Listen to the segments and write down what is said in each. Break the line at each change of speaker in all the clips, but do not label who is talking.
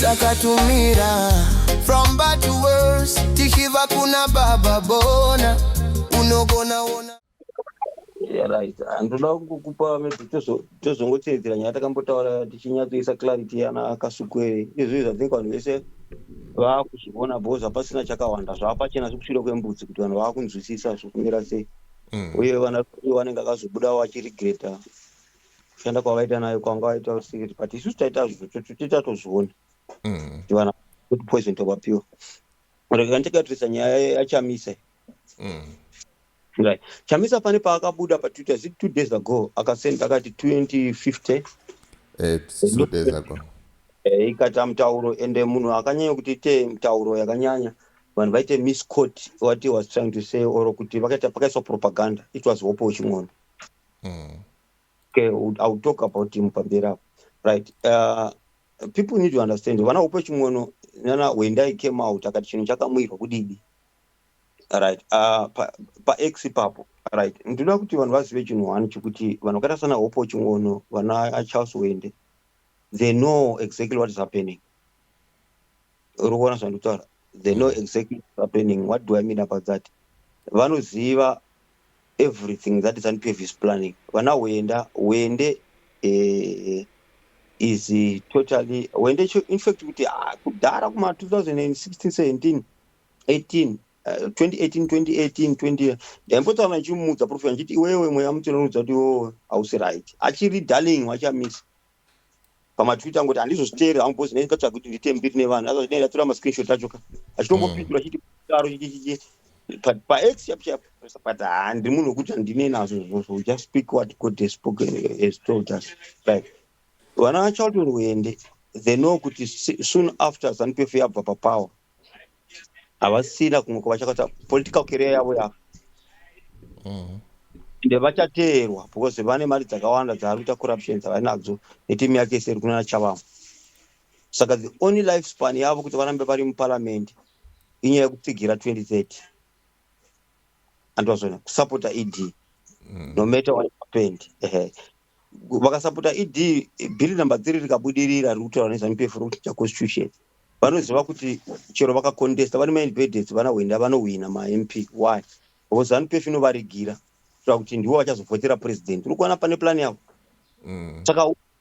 takatumira from bad to worse tichiva kuna baba bona unogona ona
right handinoda kungokupa maybe tozongotevedzera nyaya takambotaura tichinyatsoisa clarity yana akasukwere izvi zvathink vanhu vese vakuzviona bcause hapasina chakawanda zvaapachena zvekusvira kwembudzi kuti vanhu vakunzwisisa zvokumira sei mm. uye vana vanenge akazobudawo achirigreta kushanda kwavaita nayo kwanga vaita usikiri but isusu taita zvotoita tozviona mm. tivana kuti poison tovapiwa rekandigatirisa nyaya yachamisa mm. right chamisa pane paakabuda patwitter zi two days ago akasend akati 2050 eh,
two days ago eh, ikata
mutauro ende munhu akanyanya kuti ite mutauro yakanyanya vanhu vaite miscot what he was trying to say or kuti vakaita pakaiswa propaganda it was hope weching'ono mm. okay, I'll talk about him pamberi apo right uh, people need to understand vana upe chimwono nana when i came out akati chinhu chakamuirwa kudidi right uh, pax pa ipapo right ndinoda kuti vanhu vazive chinhu one chekuti vanhu vakaita sana hopo chimwono vana charles wende they know exactly what is happening uri kuona zvandikutaura they know mm. exactly what is happening what do i mean about that vanoziva everything that is an previous planning vana wenda wende eh, is eh, totally wende in fact kuti ah, kudhara kuma 2016 17 18 2018 ndaimbotaura ndichimuudza profet ndichiti iwewe mweya mutinonudza kuti iwewe hausi right achiri darling wachamisa pamatwitter angoti handizozviteerera hangu bhozi ndaitsvaga kuti ndiite mbiri nevanhu azvazvinei ndatora mascreenshot acho ka achitombopindura chiti kudaro chichichi but pax chap chap but handi munhu wekuti handine nazvo zvozvo just speak what god has spoken has told us like vana vachalton wende they know kuti soon after zanupf yabva papower havasina kumwe kwavachakata political career yavo yavo mm-hmm. ende vachateerwa because vane mari dzakawanda dzaari kuita corruption dzavainadzo netimu yake iseri kunana chavamo saka the only life span yavo kuti varambe vari muparamende inyaya yekutsigira 2030 andwazvona kusapota ed mm. no matter what happened vakasapota ed bhiri number three rikabudirira riri kutaura nezvanupefurokuita constitution vanoziva kuti chero vakacontesta vane maindependence vana hwenda vanohwina mamp why because zanupef inovarigira kuita kuti ndivo vachazovhotera president uri kuona pane plan yavo mm. saka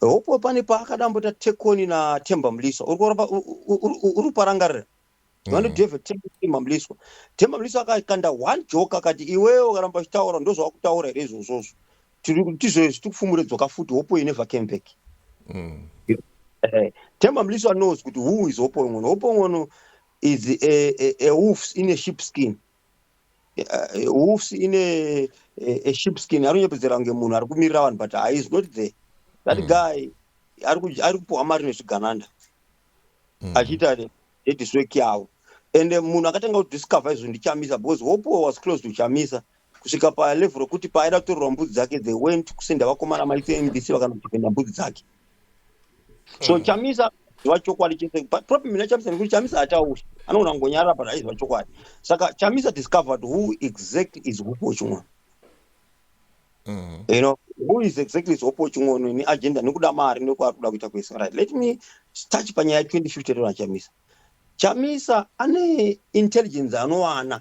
Hope pane paakada amboita take on na Themba Mliswa uri kuramba uri kuparangarira mm. vano drive Themba Mliswa Themba Mliswa akakanda one joke akati iwewe ukaramba uchitaura ndozvawakutaura here izvozvozvo tizvoizvi tikufumure dzoka futi hope you never came back mm. eh, Themba Mliswa knows kuti who is hope ngono hope ngono is a, a, a wolf in a sheep skin uh, wolves in a, a, a ship skin anonyepedzera kunge munhu ari kumirira vanhu but he is not there that mm. guy ari kupuhwa mari nezvigananda mm. achiita nediswek yavo and eh, munhu akatanga kudiscover izvo ndichamisa because hopo was close to chamisa kusvika palevel rokuti paaida kutorerwa mbudzi dzake they went kusenda vakomana maitmbc vakanodefenda mbudzi dzake mm. so hmm. chamisa ziva chokwadi chese but problem ina chamisa nekuti chamisa hatauri anogona kungonyarara but aiziva chokwadi saka chamisa discovered who exactly is hupo chimwana Mm. you know who is exactly hopo chingono ni agenda nekuda mari nekwaari kuda kuita kwese right let me touch panyaya 2050 rona chamisa chamisa ane intelligence anowana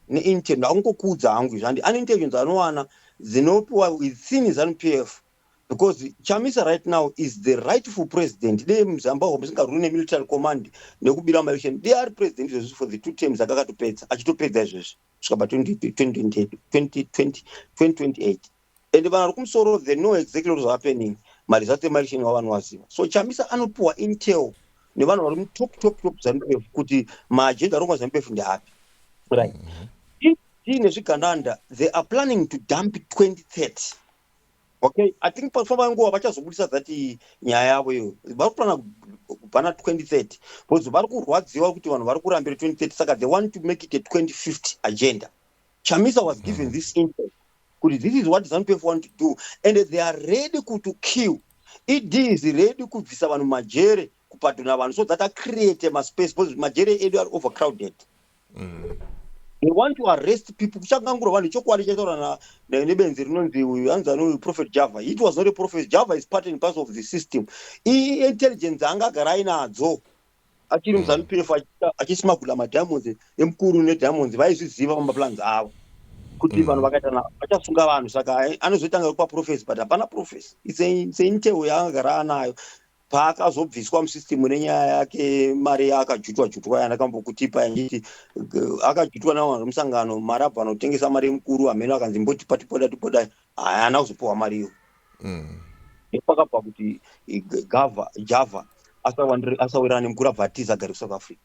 neintel akungokudza hangu izvandi ane intelligence anowana dzinopiwa within zanu p f because chamisa right now is the rightful president dei muzamba uko musingarwiri nemilitary command nekubira maelection dei ari president izvezvi for the two terms akakatopedza achitopedza izvezvi svika pa 2028 and vanhu vari kumusoro the know exactly what is happening maresults emaelection wa vanhu vaziva so chamisa anopiwa intel nevanhu vari mutop top top zanupf kuti maagenda arongwa zanupf ndeapi right mm-hmm. tiine zvigandanda they are planning to dump 2030 okay i think pafamba nguva vachazobudisa that nyaya yavo iyo vari kuplana kubhana 2030 because vari kurwadziwa kuti vanhu vari kurambira 2030 saka they want to make it a 2050 agenda chamisa was given mm. this intel kuti this is what zanupf want to do and they are ready to kill ed is ready kubvisa vanhu majere kupadhuna vanhu so that acreate maspace because majere edu ari overcrowded mm. they want to arrest people kuchangangura vanhu chokwadi chataura nebenzi rinonzi uyu hanzi anouyu prophet java it was not a prophet java is part and pass of the system iintelligence anga agara ainadzo achiri mm. muzanu pf achismagula madiamonds emukuru nediamonds vaizviziva pamaplans avo kuti mm. vanhu vakaitana vachasunga vanhu saka anozoitanga kupa profesi but hapana profesi seintewo yaanga gara anayo paakazobviswa musystem nenyaya yake mari yaakajutwa jutwa yandakambokutipa yanditi akajutwa navanhu vemusangano mari abva anotengesa mari yemukuru hameno akanzi mbotipa tipoda tipoda haana kuzopiwa mari iyo mm. nepakabva kuti gava java asawirana nemukuru abva atiza gari kusouth africa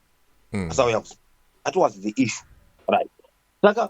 mm. asauya kusa that was the issue right saka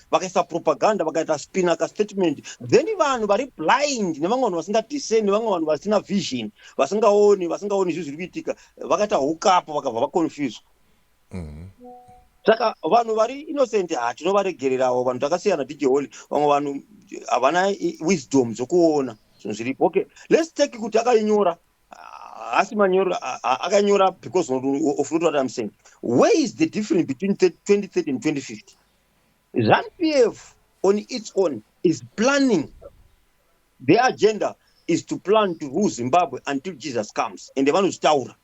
vakaisa propaganda vakaita spina ka statement then vanhu vari blind nevamwe vanhu vasinga discern nevamwe vanhu vasina vision vasingaoni vasingaoni zvinhu zviri kuitika vakaita hukapo vakabva vaconfuse mm-hmm. saka vanhu vari innocent hatinovaregererawo vanhu takasiyana dj holy vamwe vanhu havana wisdom dzokuona zvinhu zviripo okay let's take kuti akainyora haasi manyoro akanyora because of not what i'm saying where is the difference between 2030 and 2050 Zanu PF on its own is planning the agenda is to plan to rule Zimbabwe until Jesus comes and vanozvitaura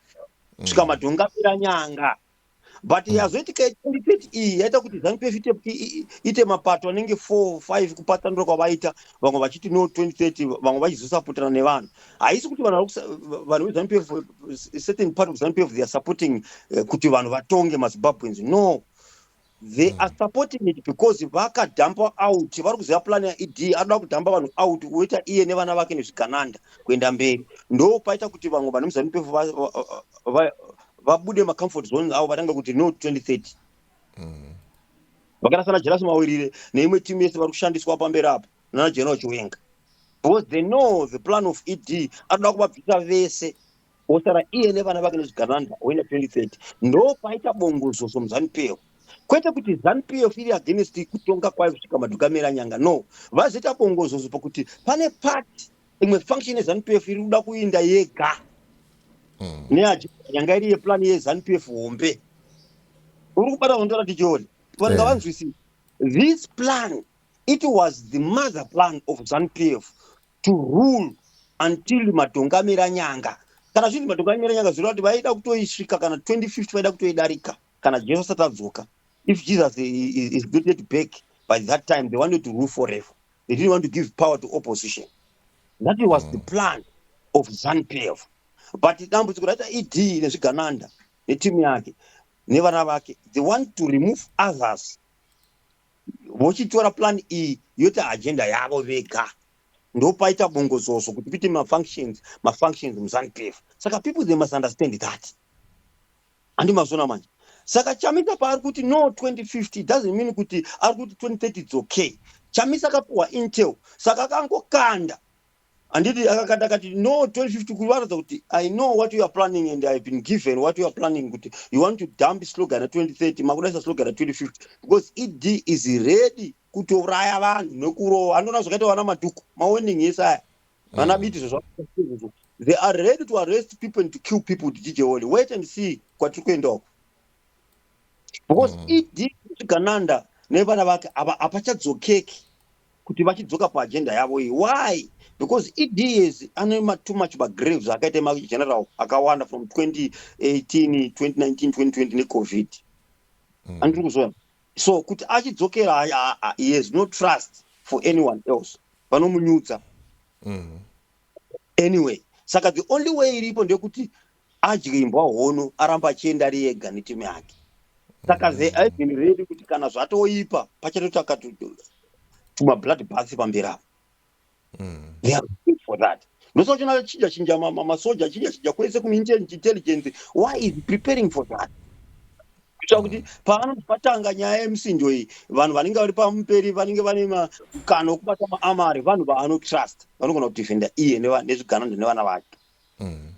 kusvika mm. madhonga apera nyanga but mm. yazoitika yechendipeti iyi yaita kuti zanupf ite mapato anenge four five kupatsanura kwavaita vamwe vachiti no 2030 vamwe vachizosapotana nevanhu haisi kuti vanhu vanhu vezanupf certain part of zanupf theare supporting eh, kuti vanhu vatonge mazimbabweans no they are supporting it because vakadhampa out vari kuziva plan yaed anoda kudhampa vanhu out oita iye nevana vake nezvigananda kuenda mberi ndo paita kuti vamwe vane muzanu pefu vabude macomfort zones avo vatange kuti no 2030 mm. vakaita sana jerasi mawirire neimwe timu yese vari kushandiswa pamberi apo nana general chiwenga because they know the plan of ed anoda kuvabvisa vese osara iye nevana vake nezvigananda oenda 2030 ndo paita bongozoso muzanu peo kwete kuti zanu pf iri against kutonga kwayo kusvika madhukamera nyanga no vazoita bongozozo pakuti pane part imwe function yezanu pf iri kuda kuinda yega mm. neaji nyanga iri yeplan yezanu pf hombe uri kubata hondo ratijori vanga yeah. vanzwisisa this plan it was the mother plan of zanu pf to rule until madhongamera nyanga kana zvinzi madhongamera nyanga zvireva kuti vaida kutoisvika kana 2050 vaida kutoidarika kana jesu asati adzoka if jesus is not yet back by that time they wanted to rule forever they didn't want to give power to opposition that was the mm. plan of zanpf but dambudziko raita ed nezvigananda netimu yake nevana vake they want to remove others vochitora plan iyi yoita agenda yavo vega ndopaita bongozozo kuti kuite mafunctions mafunctions muzanupf saka people they must understand that handi mazona manje saka chamisa paari kuti no 2050 doesn't mean kuti ari kuti 2030 its okay chamisa akapuhwa intel saka akangokanda Anditi akakata akati no 2050 kuri varatidza kuti I know what you are planning and I have been given what you are planning kuti you want to dump slogan ya 2030 makudaisa slogan ya 2050 because ED is ready kutouraya vanhu nekurova andoona zvakaita vana madhuku mawarning yese aya vana mm. biti zvozvazvo they are ready to arrest people and to kill people kuti jije wole wait and see kwatiri kuenda uko because mm. ED zvigananda nevana vake ava apachadzokeki kuti vachidzoka pa agenda yavo iyi why because ed years ane ma too much ba graves akaita ma general akawanda from 2018 2019 2020 ne covid mm. andiri kuzona so kuti achidzokera he has no trust for anyone else vanomunyudza mm. anyway saka the only way iripo ndeyekuti adye imbwa hono aramba achienda ari ega neteam yake saka mm. they have been ready kuti kana zvatoipa pachatotsvaka tuma blood bath pamberi apo mm. they are looking for that ndosaka uchona achinja chinja masoja achinja chinja kwese kuintelligence why is preparing for that kuitira kuti pavanoti patanga nyaya yemusinjo iyi vanhu vanenge vari pamuperi vanenge vane makano okubata maamari vanhu vaanotrust vanogona kudefenda iye nezviganando nevana vake mm.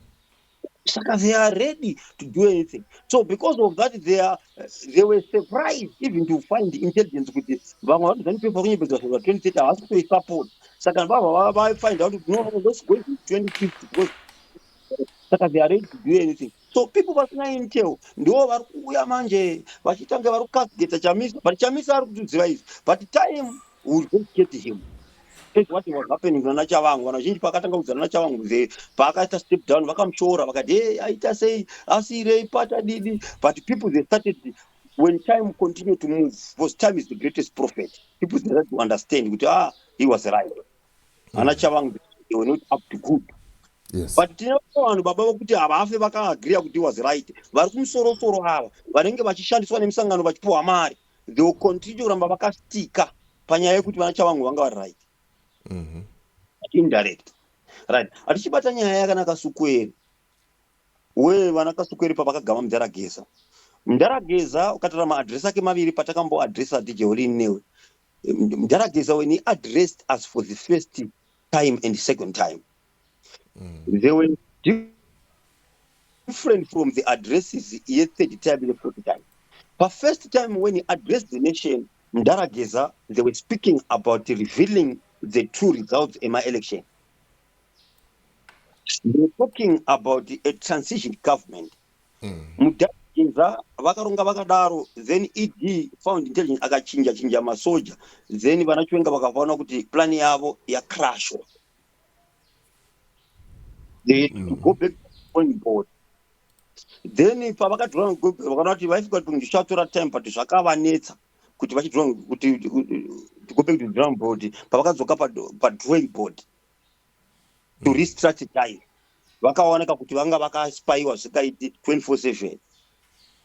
saka they are ready to do anything so because of that they, are, they were surprised even to find intelligence kuti vamwe vanhu zanipepa kunyepedzwa zvava 2030 havasi kutoisupport saka vava vaifind out kuti no let's go to 2050 because saka they are ready to do anything so people vasina intel ndivo vari kuuya manje vachitange vari kukasgeta chamisa but chamisa ari kutiziva izvi but time we will just get him as what was happening kuna nachavangu vanhu vazhinji paakatanga kudzana nachavangu mzee paakaita step down vakamushora vakati hey aita sei asirei pata didi but people they started when time continue to move because time is the greatest prophet people they start to understand kuti ah he was right mm. ana chavangu they were not up to good Yes. but
tine vanhu
baba vokuti havafe vakaagriya kuti was right vari kumusorosoro ava vanenge vachishandiswa nemisangano vachipiwa mari they will continue kuramba vakastika panyaya yekuti vana chavangu vanga vari right mhm. indirect right hatichibata nyaya yakanaka sukweri we vana kasukweri pavakagama mudharageza mudharageza ukatora maadress ake maviri patakamboadressa dj olin newe mudharageza when he addressed us for the first time and second time mm. they were different from the addresses ye third time ne fourth time pa first time when he addressed the nation mdara geza they were speaking about revealing the true results ema election they were talking about a transition government mm. mdara geza vakaronga vakadaro then ed found intelligence akachinja chinja masoja then vana chiwenga vakaona kuti plan yavo yacrashwa they mm. to go back to the drawing board then pavakadhura ngogobhero vakada kuti vaifika kuti zvichatora time but zvakavanetsa kuti vachidhura kuti to go back to the drawing board pavakadzoka padrawing board to mm. restrategize vakaoneka kuti vanga vakaspaiwa zvikaiti 24 7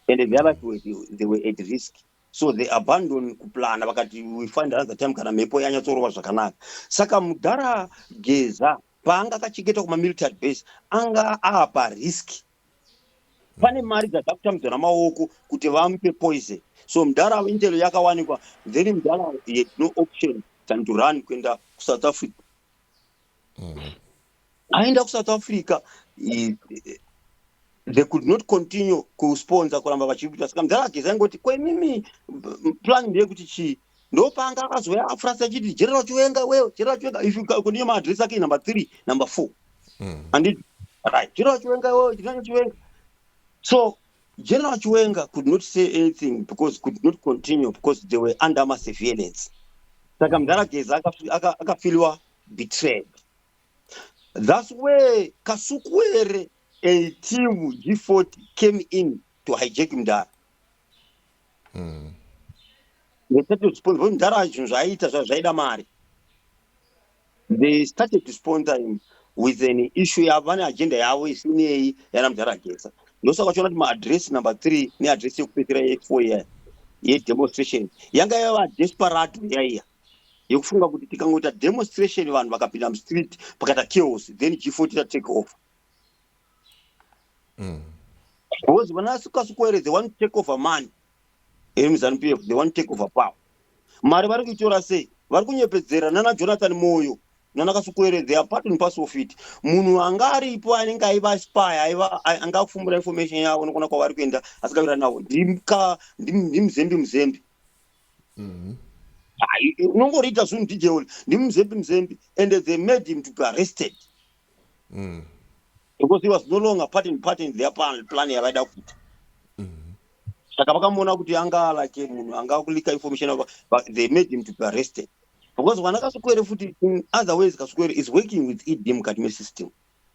and their life were, they were at risk so they abandon kuplana vakati we find another time kana mhepo yanyatsorova zvakanaka saka mudhara geza paanga akachengeta kumamilitary base anga aapa risk pane mari dzadzakutambidza namaoko kuti vamupe poison so mudhara avo intel yakawanikwa then mudhara had no option than to run kuenda kusouth africa mm. aenda kusouth africa they could not continue kusponsor kuramba vachiita saka mudhara ageza ingoti ko imimi plan ndeyekuti chii ndopaanga akazouya afrasi achiti general chiwenga wewe general chiwenga ifkuniye maadress ake number three number four mm. anditi right general chiwenga wewe general chiwenga so general chiwenga could not say anything because could not continue because they were under ma surveillance saka mudhara geza akafiliwa betrayed thus where kasukuwere a team g40 came in to hijack mdara mm. ngetatozviponza kuti mdara azvinhu zvaaiita zva zvaida mari they started to sponsor him with an issue yavo vane agenda yavo isinei yana mdara agesa ndosaka uchiona kuti maadress number three neadress yekupedzera yefour yedemonstration yanga yava desperate yaiya yekufunga kuti tikangoita demonstration vanhu vakapinda mustreet pakaita chaos then g4 tita take over mm. because vanasukasukoere they want to take over money iri muzanu pf they want to take over power mari vari kuitora sei vari kunyepedzera nana jonathan moyo nana kasukoere they are part and parcel of it munhu anga aripo anenge aiva aspire aiva anga akufumbura information yavo nokona kwavari kuenda asikavirani navo ndimuzembi muzembi mm-hmm. unongoriita zvinhu dj oli ndimuzembi muzembi and they made him to be arrested mm. because he was no longer part and part in their plan yavaida kuita mm-hmm. saka vakamuona kuti anga alake munhu anga kulika information ava but they made him to be arrested because vana kasukwere futi in other ways kasukwere is working with ed mukati mesystem mm.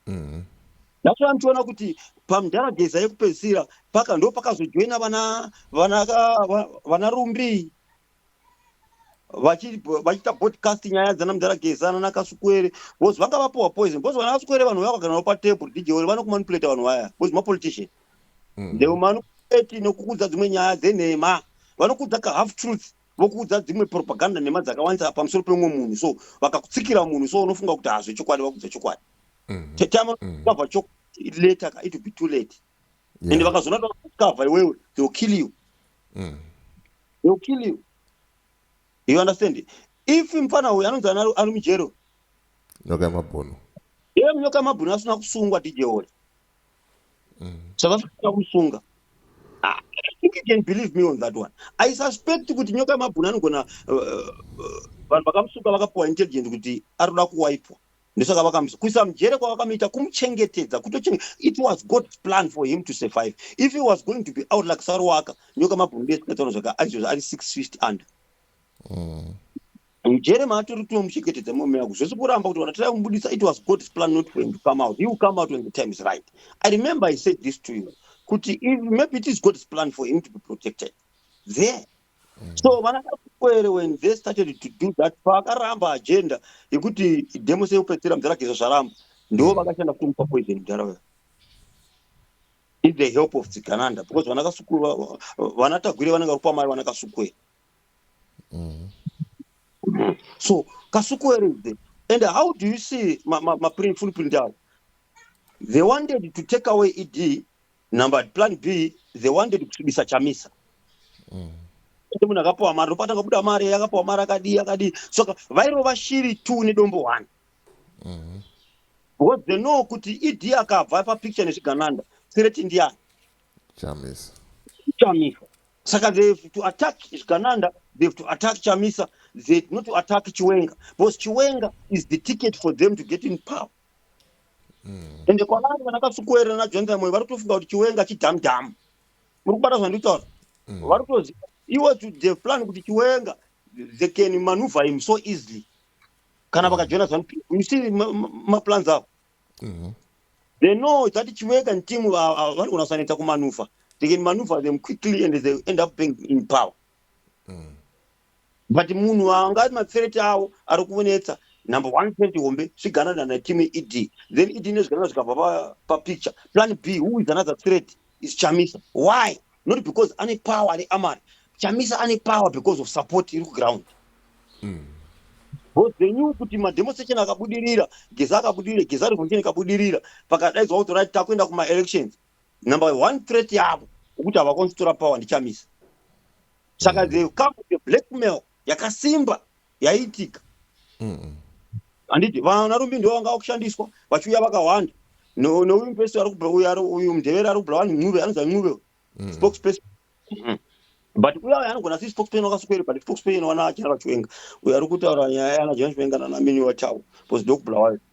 mm. That's why mtiona kuti pamdhara geza yekupedzisira paka ndo pakazojoina vana vana vana rumbi vachiita podcast nyaya dzana mdhara geza nana kasukwere because vanga vapuwa poison because vana kasukwere vanhu vaya vakagara navo patable dj ori vanokumanipulate vanhu vaya because mapolitician mm. they will manipulate nokukudza dzimwe nyaya dzenhema vanokudza ka half truth vokuudza dzimwe propaganda nhema dzakawandisa pamusoro pemumwe munhu so vakakutsikira munhu so unofunga kuti hazve chokwadi vakudza chokwadi mhm. tetamakava mhm. chokwadi later ka it will be too late and vakazoona vakakava iwewe they will kill you mhm. they will kill you you understand if mfana uyu anonzi ari mujero nyoka
yamabhunu ye nyoka
yamabhunu asina kusungwa dj ori mm. zvavasvika kusunga ah, I think you can believe me on that one. I suspect kuti nyoka yemabhuni anogona uh, uh, vanhu vakamusuka vakapiwa intelligent kuti ari kuda kuwaipwa ndosaka vakamusa kuisa mujere kwavakamuita kumuchengetedza kutochenge it was god's plan for him to survive if he was going to be out like saruwaka nyoka mabhuni besikataura zvaka aizvozvo ari six feet under mm. mujere maatori kuti vamuchengetedza mume wako zvese kuramba kuti vanatira kumubudisa it was god's plan not for him to come out he will come out when the time is right i remember i said this to you kuti if maybe it is god's plan for him to be protected there mm. so vana kakwere when they started to do that paakaramba agenda yekuti demo seyekupedzisira mudhara gezva zvaramba ndo mm. vakashanda kumupa poison mudhara uyo in the help of tsigananda because vana kasukuru vana tagwire vanenge vari pamari vana kasukwera mm. so kasuku where is there and how do you see mafull print avo they wanted to take away ed number plan b they wanted kusvibisa chamisa mm. munhu akapiwa mari ndopatanga kubuda mari yakapiwa mari akadii akadii soka vairova shiri two nedombo one mm-hmm. because they know kuti ed akabva papicture nezvigananda sireti ndiyani chamisa
chamisa
saka they have to attack zvigananda they have to attack chamisa they not to attack chiwenga because chiwenga is the ticket for them to get in power mm. ende kwavari vana kasukuera najonathan moyo vari kutofunga kuti chiwenga chidhamdhamu muri kubata zvanditaura mm. vari kutoziva iwo the plan kuti chiwenga they can maneuver him so easily kana mm. vakajoina zanu you see maplans avo mm-hmm. they know that chiweka and team vanogona kusaneta kumanufa they can maneuver them quickly and they end up being in power mm. but munhu anga matsereti avo ari kuonetsa number one twenty hombe zviganana nateam ed then ed nezviganana zvikabva papicture plan b who is another threat is chamisa why not because ane power ane amari chamisa ane power because of support iri kuground mm. bcause they knew kuti mademonstration akabudirira geza akabudirira geza revolution ikabudirira pakadaidzwa kuti rit takuenda kumaelections number one threat yavo ukuti havakwanisi kutora power ndichamisa saka mm. they come with a blackmail yakasimba yaiitika handiti vana rumbi ndivo vanga vakushandiswa vachiuya vakawanda neuyu mupesi uyu mudheveri ari kubulawa ncube anonzi ancube mm. spokesperson mm-hmm. but uya uya anogona si spokesperson wakasukeri but spokesperson wana achina vachiwenga uyo ari kutaura nyaya yana jena chiwenga nanamini watawo bcause ndokubulawayo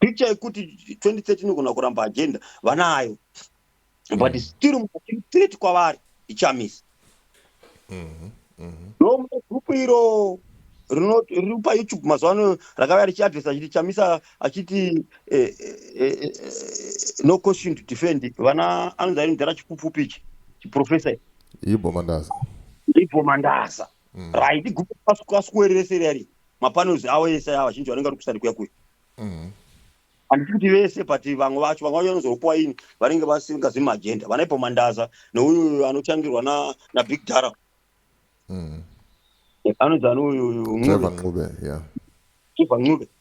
Picture yekuti 2030 inogona kuramba agenda vanayo but mm. still mukati threat kwavari ichamisa mm-hmm, mm-hmm. no mune group iro riri payoutube mazuva ano rakauya richiadresa achiti chamisa achiti eh, eh, eh, no question to defend vana anonzi ari mudhara chipupfupi ichi chiprofesa ibhomandaza ibhomandaza mm. right group pasukuerere seri yari mapanels awo ese aya vazhinji vanenge vari kusani kuya kuya mhm. handisi kuti vese but vamwe vacho vamwe vacho vanozopuwa ini vanenge vasingazi maagenda vanaipo mandaza neuyu anochangirwa nabig dara mhm. anonzi anouyuncube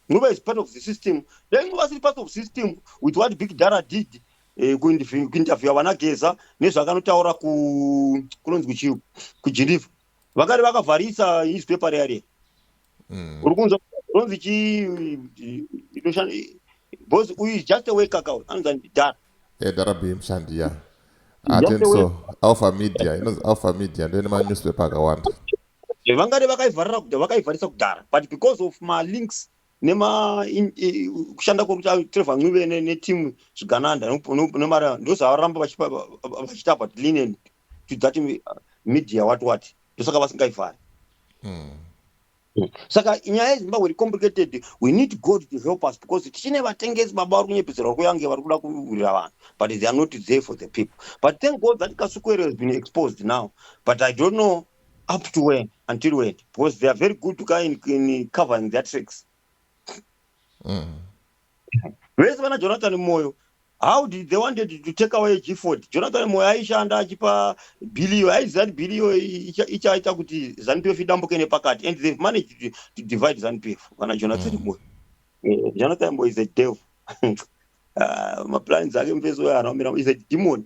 ncube is part of the system then ncube asiri part of system with what big dara did eh, kuinterviewa vanageza nezvaakanotaura kunonzi kuchiu kugeneva vakati vakavharisa newspaper riya riya mm. uri kunzwa ronzi chi inoshanda bos uyu is just a worker ka anonzi andi dara e dara b mushandi
ya atenso ah,
alpha media
inonzi alpha media ndoine manewspaper akawanda vangade
vakaivharira kudhara vakaivharisa kudhara but because of malinks nema kushanda kwokuti trevor ncube neteam zvigananda nemari ndozvavaramba vachiita but linen to that media what what ndosaka vasingaifari mm. saka nyaya yezimbabwe iri complicated we need god to help us because tichine vatengesi baba vari kunyepedzerwa kuyange vari kuda kuurira vanhu but they are not there for the people but thank god that kasukwero has been exposed now but i don't know up to when until when because they are very good to ka in, in covering their tricks Mm. vese vana jonathan moyo how did they wanted to take away gford jonathan moyo aishanda achipa billiyo aiziva kuti billiyo ichaita kuti zanupf idambuke nepakati and they've managed to, to divide zanupf vana jonathan mm. moyo eh, jonathan moyo is a devil uh, maplans ake mufesi uyo anomira is a demon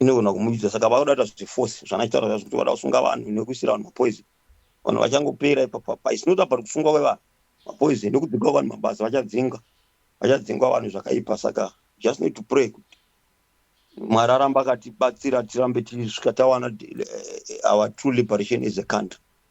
inogona kumudyisa saka vakuda kuita zveforce zvanaitaura zvazvo kuti vada kusunga vanhu nekuisira vanhu mapoison vanhu vachangopera ipapapa is not about kufunga kwevanhu mapoison nekudzingwa vanhu mabasa vachadzingwa vachadzingwa vanhu zvakaipa saka just need to pray kuti mwari aramba akatibatsira tirambe tisvika tawana eh, eh, our true liberation as a country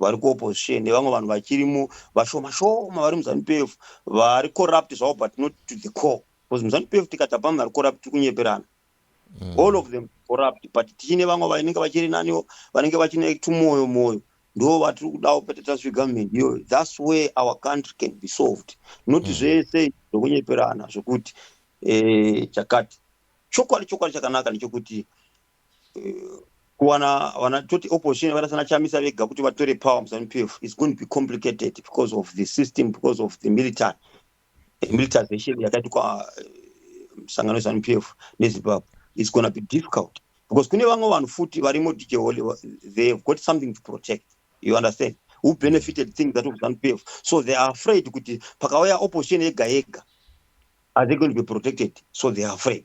vari kuopposition nevamwe vanhu vachirimo vashoma shoma vari muzanu PF vari corrupt zvavo but not to the core because muzanu PF tikati hapana vari corrupt tiri kunyeperana mm. all of them corrupt but tichine vamwe vanenge vachiri naniwo vanenge vachine tumoyo moyo ndo vatiri kudawo pete tasvi government iyo thats where our country can be solved not mm. zvese zvokunyeperana zvokuti eh, chakati chokwadi chokwadi chakanaka nechokuti kuwana vana toti opposition vakaita sana chamisa vega kuti vatore power muzanu pf is going to be complicated because of the system because of the military eh, militarization yakaitwa eh, musangano wezanu pf nezimbabwe is gonna be difficult because kune vamwe vanhu futi varimo dijehole they have got something to protect you understand who benefited things that of zanu pf so they are afraid kuti pakauya opposition yega yega are they going to be protected so they are afraid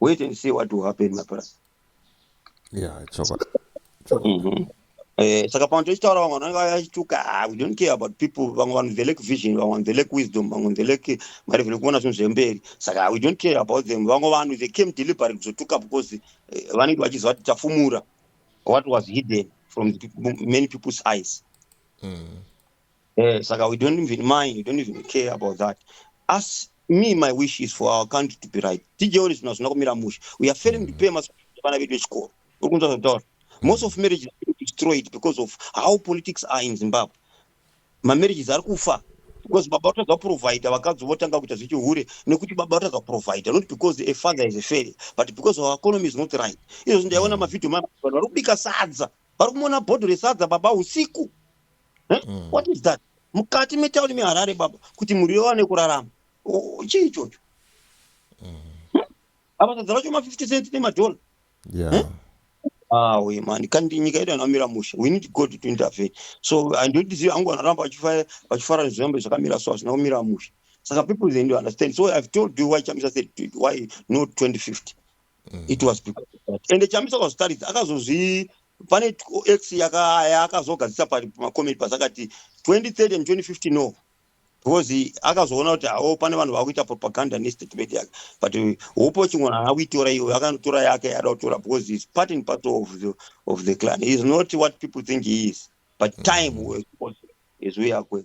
wait and see what will happen my brother yeah
chokwadi mm-hmm. eh,
saka pamwe tochitaura vamwe vanenge vachituka ah, we don't care about people vamwe vanhu velek vision vamwe vanhu velek wisdom vamwe velek mari vele kuona zvinhu zvemberi saka we don't care about them vamwe vanhu they came deliberate kuzotuka because eh, vanenge vachiziva kuti tafumura what was hidden from the people, many people's eyes mm. Eh, saka we don't even mind, we don't even care about that. Us, me, my wish is for our country to be right. Tijewo zvinhu hazvina kumira mushe. We are failing mm. to pay must vana vedu vechikoro. Uri kunzwa zvataura. Most of marriages are destroyed because of how politics are in Zimbabwe. Mamarriages are kufa because baba vatadza kuprovider vakadzi votanga kuita zvechihure nekuti baba vatadza kuprovider not because a father is a failure but because our economy is not right izvozvi ndaiona mm. mavhidhio mavanhu vari kubika sadza vari kumona bhodho resadza baba usiku eh? mm. what is that mukati metauni meharare baba kuti mhuri yowane kurarama chii ichocho mm. hm? apa sadza racho ma50 cent nemadhora yeah. eh? awe ah, mani kandi nyika yedu anamira musha we need god to intervene so handiotizivi angu anoramba vachifara nezvirambo zvakamira so hazvina kumira musha saka people they need to understand so i've told you why chamisa said why not 2050 mm. it was because of that ende chamisa kwazvitaridza akazozvi pane x yakazogadzisa pamacomment pasakati 2030 and 2050 no because akazoona kuti hao pane vanhu vakuita propaganda nestatement yake but hope chingona haana kuitora iyo akanotora yake yaada kutora because is part and part of the, of the clan is not what people think he is but time mm. is where akwe